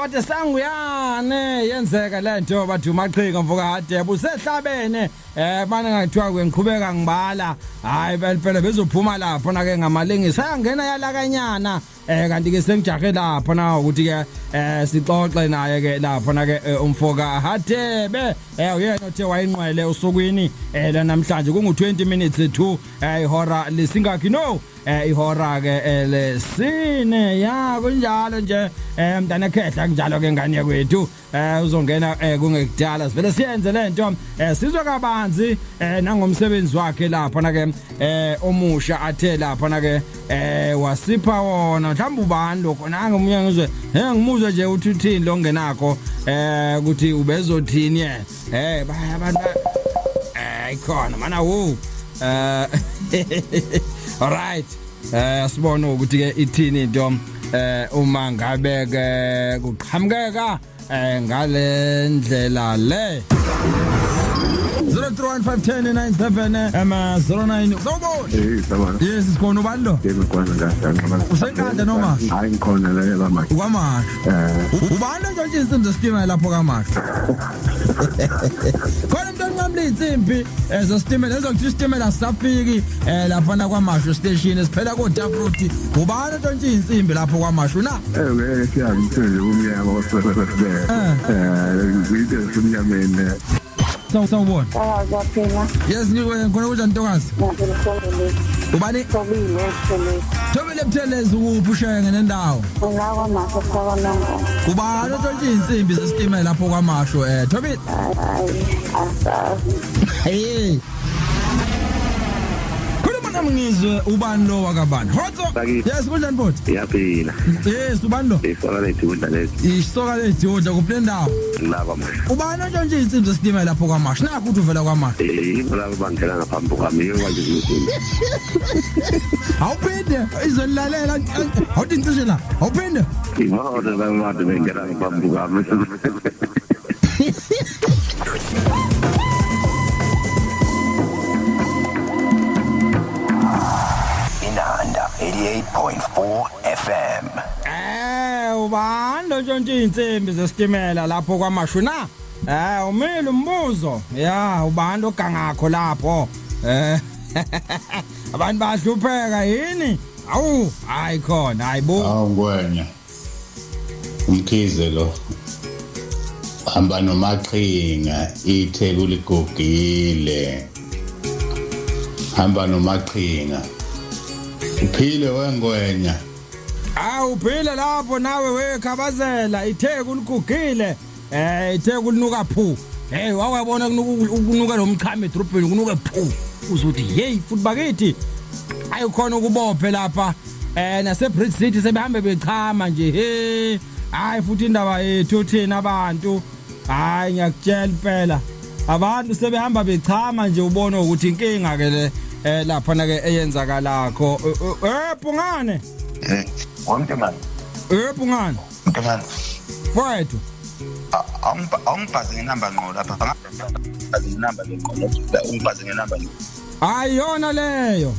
Kade sanguyane yenzeka lento bathi umaqhika mfoka hade busehlabene eh bana ngathiwa kwengiqhubeka ngibala hayi phela bezophuma lapho na ke ngamalengisa ayangena yalakanyana eh kanti ke sengijahe lapho na ukuthi ke eh sixoxe naye ke lapho na ke eh, umfoka hade be eh uyena othe wayinqwele usukwini eh la namhlanje kungu 20 minutes to eh ihora lesingakhi no eh ihora ke eh, lesine ya kunjalo nje eh mntana khehla kunjalo ke ngane yakwethu eh uzongena eh, kungekudala sivele siyenze lento eh sizwe kabanzi eh nangomsebenzi wakhe lapha na ke eh omusha athe lapha na ke eh wasipha wona mhlawumbe ubani lokho nange umunye ngizwe he ngimuzwe nje uthi uthini lo ngenakho eh ukuthi ubezothini yena Eh baya abantu eh ikhona mana wo. Eh all right. Eh sibona ukuthi ke ithini into eh uma ngabe ke kuqhamukeka eh ngale ndlela le 0315109 ama 09 sawubona Eh, sabona. yes sikhona ubani lo Yebo kwana ngiyaqala. Usenkandla noma? Hayi ngikhona la yaba manje. ukamaka Eh, ubani ontshontshisa umzesitima lapho kamaka khona into enqamula iy'nsimbi um zesitimela enza ukuthi isitimela sisafiki um laphana kwamashu station siphela kotaproti ubani ontshontshe iy'nsimbi lapho kwamashu na ewe siyazi umsebenzi kumnyama osibele um ziyinto ezisemnyameni so sawubona Sawaza phela. yes ngikhona kunjani ntokazi Ngiyakuzwa ubani Sobile, sobile. Wena Buthelezi ukuphi ushenge nendawo? Ngila kwamasho saka nongo. Ubani otshontsha izinsimbi zesitimela lapho kwamasho eh Thobile? Hayi, asazi. Hey. Khuluma nami ngizwe ubani lo wakabani? Hotso. Sakithi. Yes, kunjani bhuti? iyaphila Yes, ubani lo? isola lethu kudla lezi Isoka lejodla kuphi nendawo? ngilaba ma ubani ontshontshe iy'nsimbi zesitimela lapho kwamasha nakho ukuthi uvela kwamasha yibo labo bangena ngaphambi kwami yibo kwanje zimsini awuphinde izonilalela awuthi ngicishe la awuphinde yibona labo bantu bengena ngaphambi kwami Inanda 88.4 FM. Eh ubani ontshontsha izinsimbi zesitimela lapho kwamashu na? Eh umile umbuzo. Ya ubani ogangakho lapho? Eh abantu bahlupheka yini? Awu hayi khona hayibo. Awu ngwenya. Umkhize lo. Hamba nomaqhinga ithe kuligugile. Hamba nomaqhinga. Uphile wengwenya. Awu uphile lapho nawe wekhabazela itheku uligugile eh itheku linuka phu hey wawabona kunuka lo mchame edrobheni kunuka phu uzothi hey futhi bakithi ayikhona ukubophe lapha eh nase Bridge City sebehambe bechama nje hey hayi futhi indaba yethu thina abantu hayi ngiyakutshela impela abantu sebehamba bechama nje ubona ukuthi inkinga ke le eh lapha na ke eyenzakalakho eh pungane eh wonke manje eh pungane wonke manje mfowethu awungibhaze ngenamba ngqo lapha ngibhaze ngenamba ngqo ngibhaze ngenamba ngqo hayi yona leyo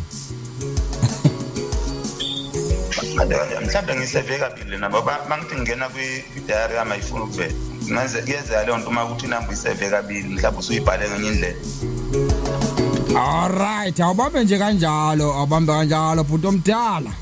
mhlawumbe ngiseve kabili nabo bangithi ngingena kwi-diary yami ayifuni ukuvela kuyenzeka leyo nto uma ukuthi inamba uyiseve kabili mhlawumbe usuyibhale ngenye indlela Alright, awubambe nje kanjalo, awubambe kanjalo bhuti omdala.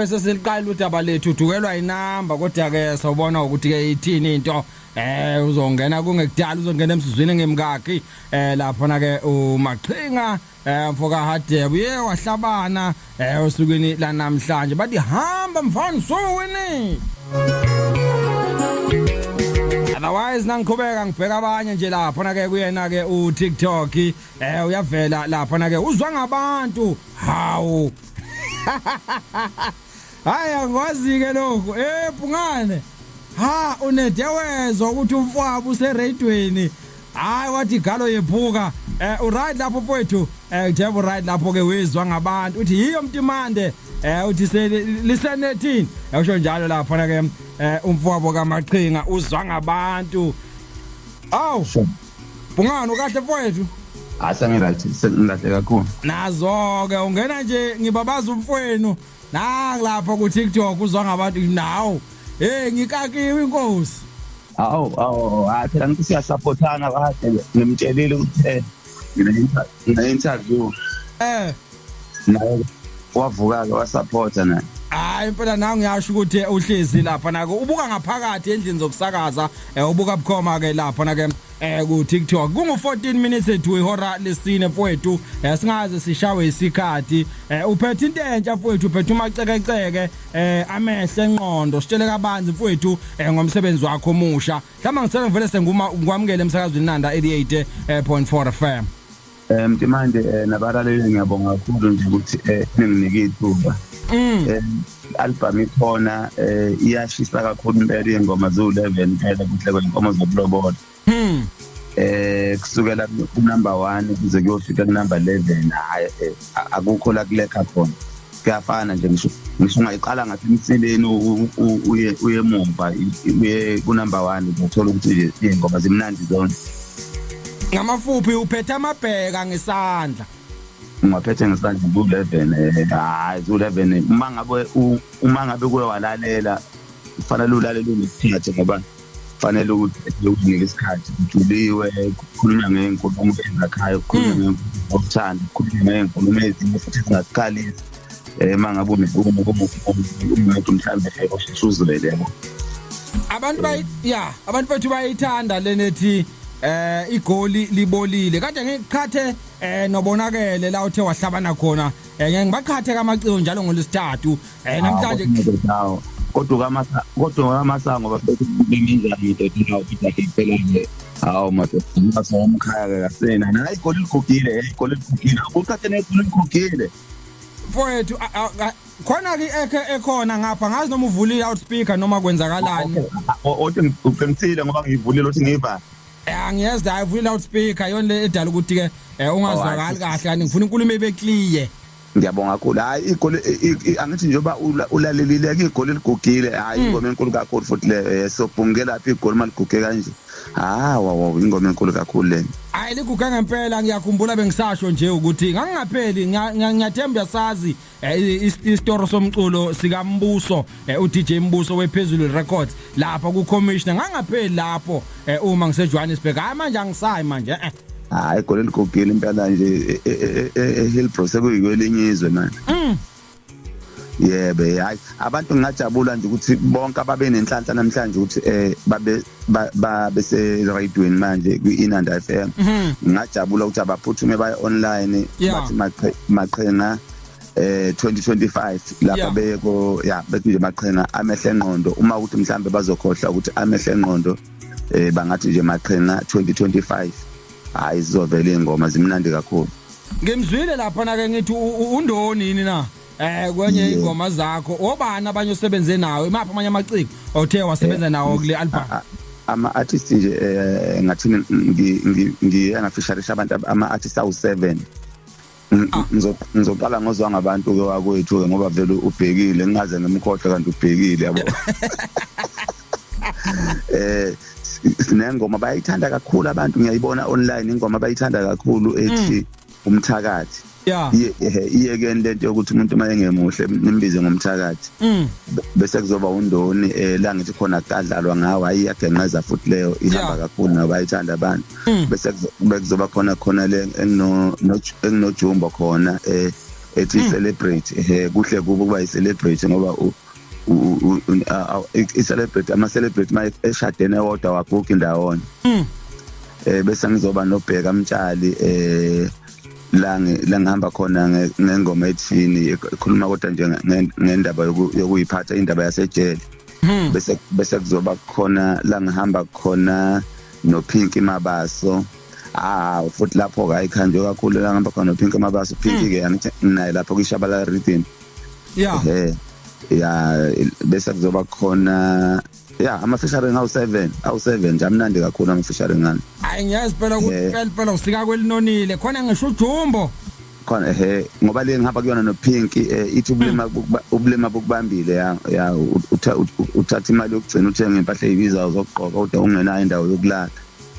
ngabe sesiliqala udaba lethu udukelwa inamba kodwa ke sawubona ukuthi ke ithini into eh uzongena kungekudala uzongena emsizwini ngemkakhi eh lapho na ke umaqhinga Eh mfoka Hadebe uye wahlabana eh osukwini lanamhlanje bathi hamba mfana sowini. Otherwise nangiqhubeka ngibheka abanye nje lapha na ke kuyena ke u TikTok eh uyavela lapha na ke uzwa ngabantu hawu Hayi angikwazi-ke lokhu eh Phungane ha unede wezwa ukuthi umfwabo usereyidweni hayi wathi galo yephuka eh uright lapho mfowethu eh njengoba uright lapho ke wizwa ngabantu uthi yiyo mtimande eh uthi lisenethini yasho njalo lapho na ke eh umfowabo kamaqhinga uzwa ngabantu awu Bungani ukahle mfowethu? Hayi sengirathi sengilahle kakhulu. Nazo ke ungena nje ngibabaza umfowenu nangilapha ku TikTok uzwa ngabantu nawo. Hey ngikakiwe inkosi. Awu awu hayi phela ngithi siyasupportana kade ngimtshelile ukuthi eh ngine interview. Eh naye wavuka-ke wasaphotha naye hayi impela nangu ngiyasho ukuthi eh, uhlezi lapha nako ubuka ngaphakathi endlini zokusakaza eh, ubuka bukhoma ke lapha nake eh ku TikTok kungu 14 minutes to ihora lesine mfowethu eh, singaze sishawe isikhathi eh, uphethe into entsha mfowethu uphethe umacekeceke eh amehle enqondo sitshele kabanzi mfowethu eh, ngomsebenzi wakho omusha mhlawumbe ngisele ngivele senguma ngikwamukele emsakazweni Nanda 88.4 FM um manje um nabalaleli ngiyabonga kakhulu nje ukuthi um ninginike ithuba um mm. albhamu ikhona um iyashisa kakhulu impela iy'ngoma ziwu-eleven phela kuhle kwenkomo zokulobola um kusukela kunumber one kuze kuyofika kunumber eleven hhayi akukho la kulekha khona kuyafana nje ngisho ngisho ungayiqala ngathi emsileni uye uye mumva uye ku number 1 uthola ukuthi ingoma zimnandi zonke ngamafuphi uphethe amabheka ngesandla ngaphethe ngesandla ku-11 eh, hayi ku-11 uma ngabe uma ngabe kuye walalela kufanele ulalele unokuthathe ngoba kufanele ukuthi ukunike isikhathi kujuliwe kukhulunywa ngey'nkulumo ezakhayo kukhulunywa hmm. ngokuthanda kukhulunywa ngey'nkulumo ezinye futhi zingasikhalisi um eh, uma ngabe unenkulumo umuntu mhlawumbe osheshe uzwele yabo abantu ya abantu bethu bayayithanda lenethi eh igoli libolile kade ngiqhathe eh nobonakele la uthe wahlabana khona eh ngibaqhathe kamaciko njalo ngolesithathu Eh namhlanje ngidawo. Kodwa kamasa kodwa kamasango bafethu benginjani ndoda nawo phitha phela nje. Hawu madoda ngibasa umkhaya ke kasena. Nala igoli ligugile, eh, igoli ligugile. Ukuthathe negoli ligugile. Mfowethu khona ke ekhe ekhona ngapha ngazi noma uvulile out speaker noma kwenzakalani. Othi ngiqinisile ngoba ngivulile uthi ngiva. Angiyezwa eh, ayivulile out speaker yona le edala ukuthi ke eh, ungazwakali oh, kahle kanti ngifuna inkulumo ebe clear. Ngiyabonga kakhulu. Hayi igoli angithi njengoba ulalelile ke igoli ligugile. Hayi mm. ingoma enkulu kakhulu futhi le eh, sobhunge lapha igoli maliguge kanje. Ah wow ingoma enkulu kakhulu le. Hayi liguge ngempela ngiyakhumbula bengisasho nje ukuthi ngangingapheli ngiyathemba uyasazi eh, isitoro somculo sikambuso eh, uDJ Mbuso wePhezulu Records lapha kuCommissioner ngangapheli lapho eh, uma ngiseJohannesburg hayi manje angisayi manje eh hayi gole ligogile impela nje eHillbrow e, e, e, sekuyikwelinye izwe manje mm. yebo hayi abantu ngingajabula nje ukuthi bonke ababe nenhlanhla namhlanje ukuthi eh babe babe se radioweni manje kwi Inanda FM mhm. ngingajabula ukuthi abaphuthume baye online bathi maqhenga eh 2025 lapha yeah. beko ya bethi nje maqhina amehle enqondo uma ukuthi mhlambe bazokhohla ukuthi amehle enqondo eh bangathi nje maqhina 2025 hayi sizovela ingoma zimnandi kakhulu ngimzwile lapha na ke ngithi undoni yini na eh kwenye ingoma zakho obani abanye osebenze nawo imaphi amanye amaciko othe wasebenza eh, nawo kule album ama artist nje eh ngathi ngi ngi ngi angafisharisha abantu ama artist awu 7 ngizoqala ngozwa ngabantu ke wakwethu ke ngoba vele ubhekile ngingaze ngimkhohle kanti ubhekile yabo eh sinengoma bayithanda kakhulu abantu ngiyayibona online ingoma bayithanda kakhulu ethi mm. umthakathi iyekeni lento yokuthi umuntu uma engemuhle nimbize ngomthakathi mm. bese kuzoba undoni eh, la ngithi khona kadlalwa ngawo ayiyagenqeza futhi leyo ihamba kakhulu nabayithanda abantu mm. bese kuzoba khona khona le engino enginojumbo khona eh ethi mm. celebrate eh kuhle kubo kuba i-celebrate ngoba i-celebrate ama-celebrate uma eshadene wodwa wagugi ndawonye mm. eh bese ngizoba nobheka mtshali eh la la ngihamba khona ngengoma ethini ekhuluma kodwa nje ngendaba yokuyiphatha indaba yasejele hmm. bese bese kuzoba khona la ngihamba khona nophinki mabaso ah futhi lapho ke ayikhanjwe kakhulu la ngihamba khona nophinki mabaso phinki ke angithi naye lapho kwishabala rhythm ya ehe ya bese kuzoba khona ya ama-featuring awu-seven awu-seven nje amnandi kakhulu ama-featuring ngani hayi ngiyazi phela ukuthi Eh. phela phela usika kwelinonile khona ngisho ujumbo khona ehe ngoba le ngihamba kuyona nopink eh, ithi ubulima hmm. bukuba- ubulima bukubambile ya ya u- utha- u- uthatha imali yokugcina uthenge impahla eyibizayo zokugqoka kodwa ungenayo indawo yokulala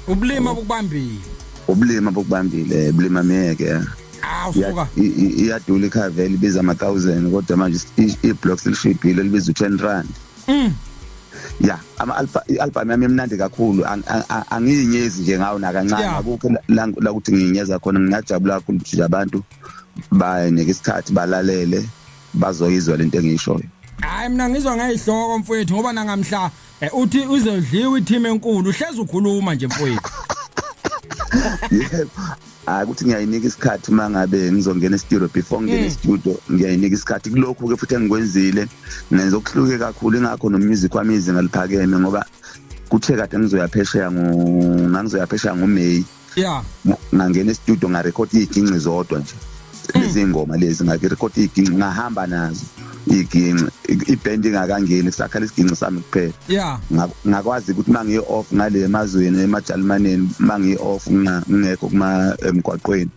ubulima bukubambile ubulima bukubambile eh, bulima miyeke ya awu Ya- suka i- i- iyadula ikhave elibiza ama-thousand kodwa manje i- i-blocks elishibhile elibiza u-ten rand mm ya ama alpha album yami emnandi kakhulu angiyinyezi nje ngawo nakancane akukho la ukuthi ngiyinyeza khona ngingajabula kakhulu ukuthi abantu banike isikhathi balalele bazoyizwa lento engishoyo hayi mina ngizwa ngayihloko mfowethu ngoba nangamhla eh, uthi uzodliwa i team enkulu uhlezi ukhuluma nje mfowethu hayi ukuthi ngiyayinika isikhathi uma ngabe ngizongena estudio before ngingena mm. estudio ngiyayinika isikhathi kulokhu-ke futhi engikwenzile ngenza okuhluke kakhulu ingakho nomusic wami izinga liphakeme ngoba kuthe kade ngizoyaphesheya ngangizoyaphesheya ngomeyi yeah ngangena estudio ngarekhodi iy'ginci zodwa nje izingoma lezi ngakirekhodi iginci ngahamba nazo iginci ibhendi ingakangeni kusakhala isiginci sami kuphela yeah ngakwazi ukuthi mangiyi off ngale emazweni emajalimaneni mangiyi off ngingekho kuma emgwaqweni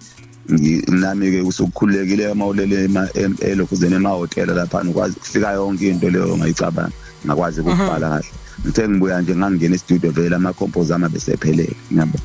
nami ke usukhulekile uma ulele elokuzeni emahotela lapha ukwazi kufika yonke into leyo ngayicabanga ngakwazi ukubhala kahle ngithe ngibuya nje ngangena e-studio vele ama-compos ami abesephelele ngiyabo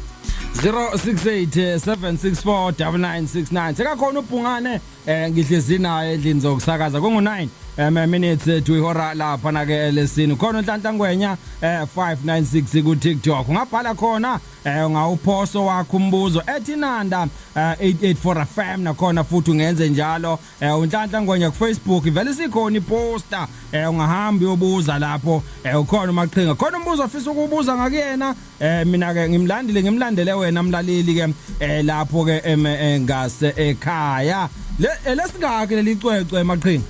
068 764 9969 sekakhona ubhungane eh ngihlezi naye endlini zokusakaza kungu 9 um eh, minutes eh, to ihora lapha na ke elesini khona unhlanhla ngwenya eh 596 ku TikTok ungabhala khona eh ngawuphoso wakho umbuzo ethi nanda 884 eh, FM nakhona futhi ungenze njalo eh uNhlanhla Ngwenya ku Facebook ivele sikhona iposter eh ungahamba uyobuza lapho eh ukhona umaqhinga khona umbuzo ofisa ukubuza ngakuyena eh mina ke ngimlandile ngimlandele wena mlaleli ke eh lapho ke eh, ngase ekhaya le eh, lesingaki lelicwecwe maqhinga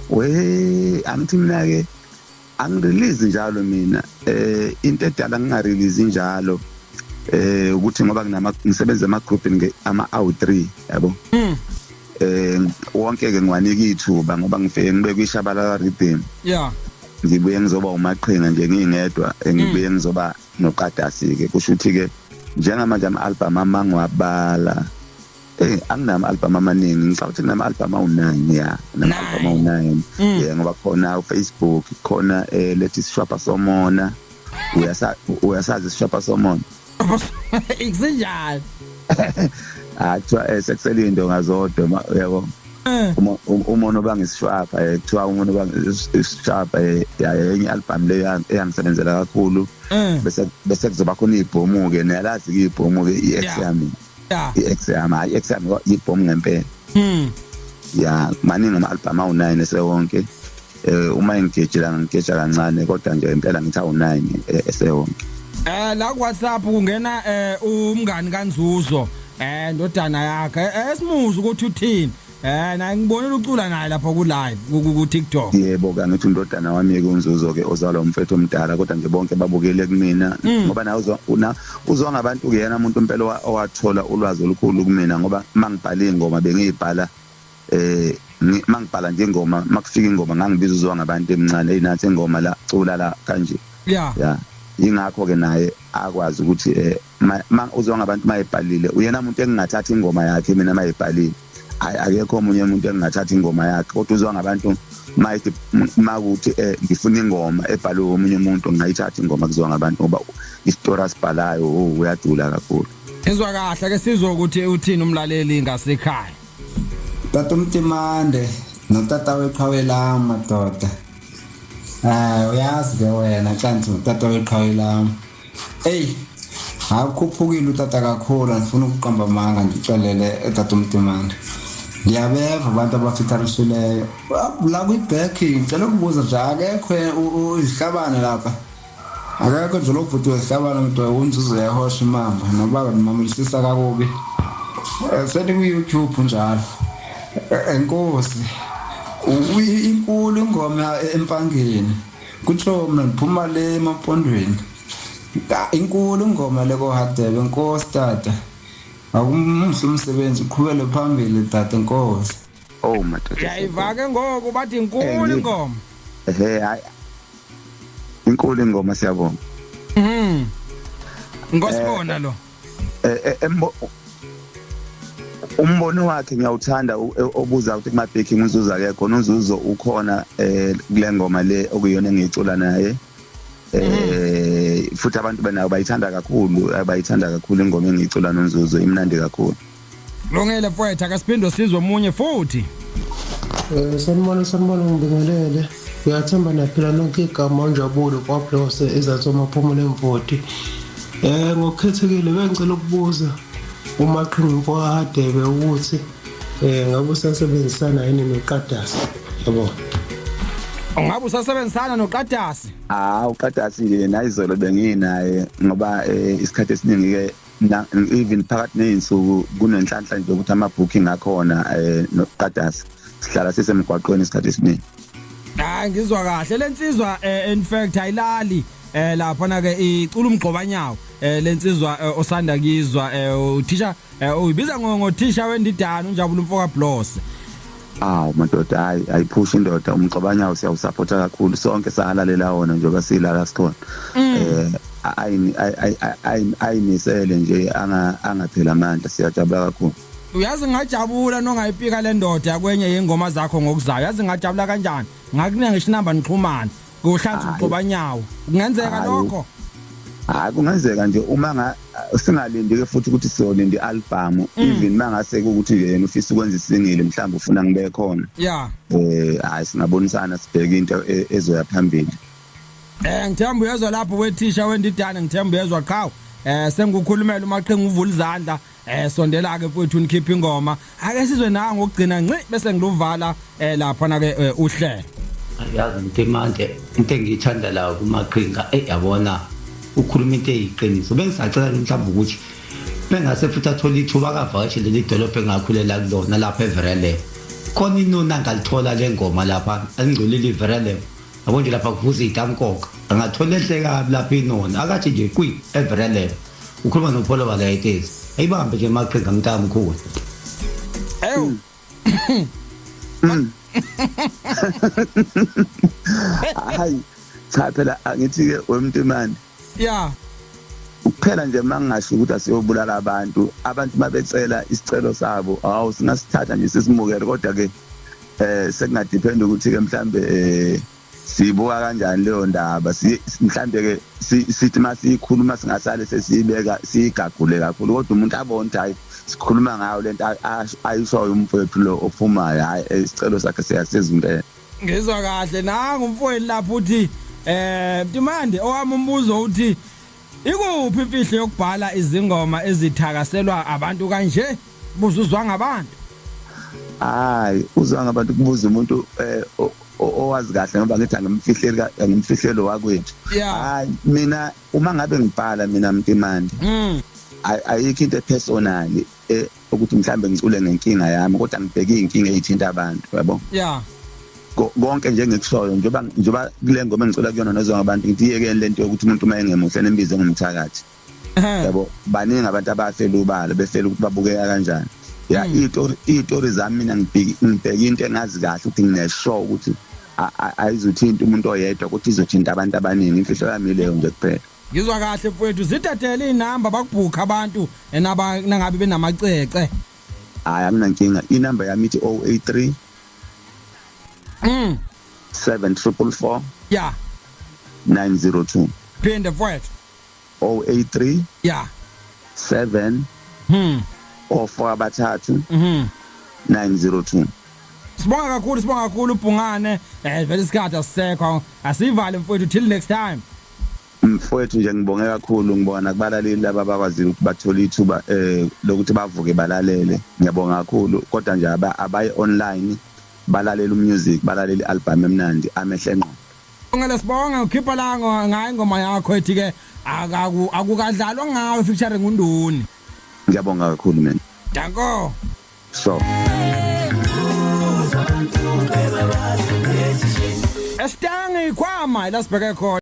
we angithi mina ke angirelease njalo mina eh into edala ngingarelease njalo eh ukuthi ngoba nginama ngisebenza ama group ama out3 yabo mm. eh wonke ke ngiwanika ithuba ngoba ngifike ngibe kwishabalala rhythm yeah ngibuye ngizoba umaqhinga nje ngingedwa eh, ngibuye mm. ngizoba noqadasi ke kusho ukuthi ke njengamanje ama album amangiwabala Eh anginama album amaningi ngicabanga ukuthi nginama album awu9 ya nginama album awu9 mm. yeah ngoba khona uFacebook khona eh lethi sishwapha somona uyasa uyasazi sishwapha somona ikunjalo akthiwa ah, eh, sekuselindo ngazodwa yabo Eh. uma uma nobanga isishwapha eh, kuthiwa uma nobanga isishwapha eh, yenye album le eyangisebenzela kakhulu eh. bese bese kuzoba khona ibhomu ke niyalazi ke ibhomu ke i-ex yami yeah i-ex yami hayi i-ex yami yibhomu ngempela mm ya maningi ama-album awu-nine esewonke eh uma engigejela ngigeja kancane kodwa nje impela ngithi awu-nine eh, esewonke eh la ku WhatsApp kungena eh umngani kanzuzo eh ndodana yakhe eh, esimuzi ukuthi uthini Eh na ngibonile ucula naye lapha ku live ku TikTok. Yebo kanti uthi undodana wami yeke unzuzo ke ozalwa umfethu omdala kodwa nje bonke babukele kumina mm. ngoba na uzwa una uzwa ngabantu ke yena umuntu impela owathola ulwazi olukhulu kumina ngoba mangibhala ingoma bengiyibhala eh mangibhala nje ingoma makufika ingoma ngangibiza uzwa ngabantu emncane hey nathi ingoma la cula la kanje. Yeah. Yeah. Ingakho ke naye akwazi ukuthi eh Ma, ma uzwa ngabantu mayebhalile uyena muntu engingathatha ingoma yakhe mina mayebhalile hayi akekho omunye umuntu engingathatha ingoma yakhe kodwa uzwa ngabantu mayithi makuthi um eh, ngifuna ingoma ebhalwe omunye umuntu ngingayithatha ingoma kuzwa ngabantu ngoba isitori asibhalayo o oh, uyadula kakhulu izwa kahle ke sizwe ukuthi uthini umlaleli ngasekhaya tata umtimande notata weqhawe lam madoda um uyazi ke wena xa ndithi ngutata weqhawe lam Hey, akukhuphukile utata kakhulu andifuna ukuqamba amanga ndixelele utata umdimane ndiyabeva abantu abafithalusileyo la kwi-back ndicela ukubuza nje akekho izihlabane lapha akekho nje lobhuti wezihlabane mntu umzuzu yahosha imamba noba ndimamulisisa kakubi eh, sendikwi-youtube njalo eh, enkosi inkulu ingoma empangeni Kutsho mina ngiphuma le emampondweni. Ah, Inkulu ingoma le kohadebe nkosi tata. Akumuhle umsebenzi uqhubele phambili tata nkosi. Oh madoda. Uyayiva ke ngoku bathi inkulu Eh, ngi- ingoma. Ehe hayi. Inkulu ingoma siyabonga. Mhm. Ngosibona lo. eh, eh, umbono wakhe ngiyawuthanda e, obuza ukuthi kuma backing uzuzo akekho uzuzo ukhona eh kule ngoma le okuyona engicula naye eh futhi abantu benayo bayithanda kakhulu bayithanda kakhulu ingoma engicula nonzuzo imnandi kakhulu Lungile mfowethu akasiphinde sizwe omunye futhi. Eh sanibona sanibona ngibingelele. Ngiyathemba naphila nonke igama onjabulo kwaBlose ezathoma phumula emvoti. Eh ngokukhethekile bengicela ukubuza uma qhinqo wahadebe ukuthi eh ngabe usasebenzisana yini noqadasi yabo Ungabe usasebenzisana noqadasi? Ah uqadasi nje nayizolo benginaye ngoba eh, isikhathi esiningi ke even phakathi nezinsuku kunenhlanhla nje ukuthi ama booking akhona eh nokuqadasa sihlala sisemgwaqweni isikhathi esiningi hayi ngizwa kahle lensizwa eh, in fact ayilali eh lapha na ke icula umgqobanyawo eh lensizwa eh, osanda kizwa eh uthisha eh, uyibiza ngo ngothisha wendidana unjabula umfoka Blose aw madoda hayi ayiphushe indoda umxabanyawo siyawusaphotha kakhulu sonke sahalalela wona njengoba sila la sikhona mm. eh ayimisele nje angaphela amandla siyajabula kakhulu uyazi ngajabula nongayipika le ndoda yakwenye yengoma zakho ngokuzayo yazi ngajabula kanjani ngakunika ngisho inamba nixhumane kuhlanza umgobanyawo kungenzeka lokho hayi kungenzeka nje uma nga singalindi ke futhi ukuthi siyolinda i-album mm. even mangase ukuthi nje yena ufisa ukwenza isingile mhlawumbe ufuna ngibe khona yeah eh hayi singabonisana sibheke into e, ezoya phambili eh ngithemba uyezwa lapho wethisha wendidane ngithemba uyezwa qhawe eh sengukhulumela umaqhinga uvula izandla Eh sondela ke mfowethu nikhipha ingoma. Ake sizwe nawe ngokugcina nci bese ngiluvala eh lapha na ke eh, uhlelo. Yazi mtimande into engiyithanda la kumaqhinga eh yabona ukhuluma into eyiqiniso. Bengisacela mhlawumbe ukuthi bengase futhi athole ithuba akavakashe leli dolobha engakhulela kulona lapha eVerelem. Khona inoni angalithola le ngoma lapha alingcolile iVerelem. Yabo nje lapha kuvuza itamkoka. Angathola enhle kabi lapha inoni akathi nje kwi eVerelem. ukhuluma nopholo balayitezi ayibambe nje maqhinga mntamkhulu ewu hayi cha phela angithi-ke wemntimane ya kuphela nje uma ngingasho ukuthi asiyobulala abantu abantu uma becela isicelo sabo hawu singasithatha nje sisimukele kodwa-ke um eh, sekungadiphendi ukuthi-ke mhlawumbe um eh, siyibuka kanjani leyo ndaba mhlawumbe ke sithi uma siyikhuluma singasale sesiyibeka siyigagule kakhulu kodwa umuntu abone ukuthi hhayi sikhuluma ngayo le nto ayishoyo umfowethu lo ophumayo hhayi eh, isicelo sakhe siyasiza impela ngizwa kahle nangu umfowethu lapho uthi um timande owami umbuzo uthi ikuphi imfihlo yokubhala izingoma ezithakaselwa abantu kanje buzuzwa ngabantu hayi uzwa ngabantu kubuza umuntu um owazi kahle ngoba ngithi angimfihleli angimfihlelo wakwethu hayi mina uma ngabe ngibhala mina mntimandi mm. ayikho into epersonal e, ukuthi mhlambe ngicule ngenkinga yami kodwa ngibheke inkinga ezithinta abantu yabo yeah konke nje ngikushoyo njengoba njengoba kule ngoma engicula kuyona nozwa ngabantu ngidiyeke lento yokuthi umuntu uma engemuhle nembize ngomthakathi yabo baningi abantu abafela ubala befela ukuthi babukeka kanjani ya hmm. itori itori zami mina ngibheki ngibheki into engazi kahle ukuthi nginesho ukuthi ayizothinta umuntu oyedwa ukuthi izothinta abantu abaningi imfihlo yami leyo nje kuphela ngizwa kahle mfowethu zithathele inamba bakubhukha abantu enaba nangabe benamacece hayi anginankinga inamba yami ithi 083 mm 7444 yeah 902 phinda mfowethu 083 yeah 7 hmm ofo abathathu mhm 902 Sibonga kakhulu sibonga kakhulu ubhungane eh vele isikhathi asisekho asivale mfowethu till next time mfowethu nje ngibonge kakhulu ngibona kubalaleli laba bakwazile ukuthi bathole ithuba eh lokuthi bavuke balalele ngiyabonga kakhulu kodwa nje abaye online balalela umusic balalela ialbum emnandi amehle ngqo Ngale sibonge ukhipha la ngo- ngayo ingoma yakho ethi ke akaku- akukadlalwa ngawe featuring undoni. ngiyabonga kakhulu mina Danko. so Esitangi ikhwama ila sibheke khona.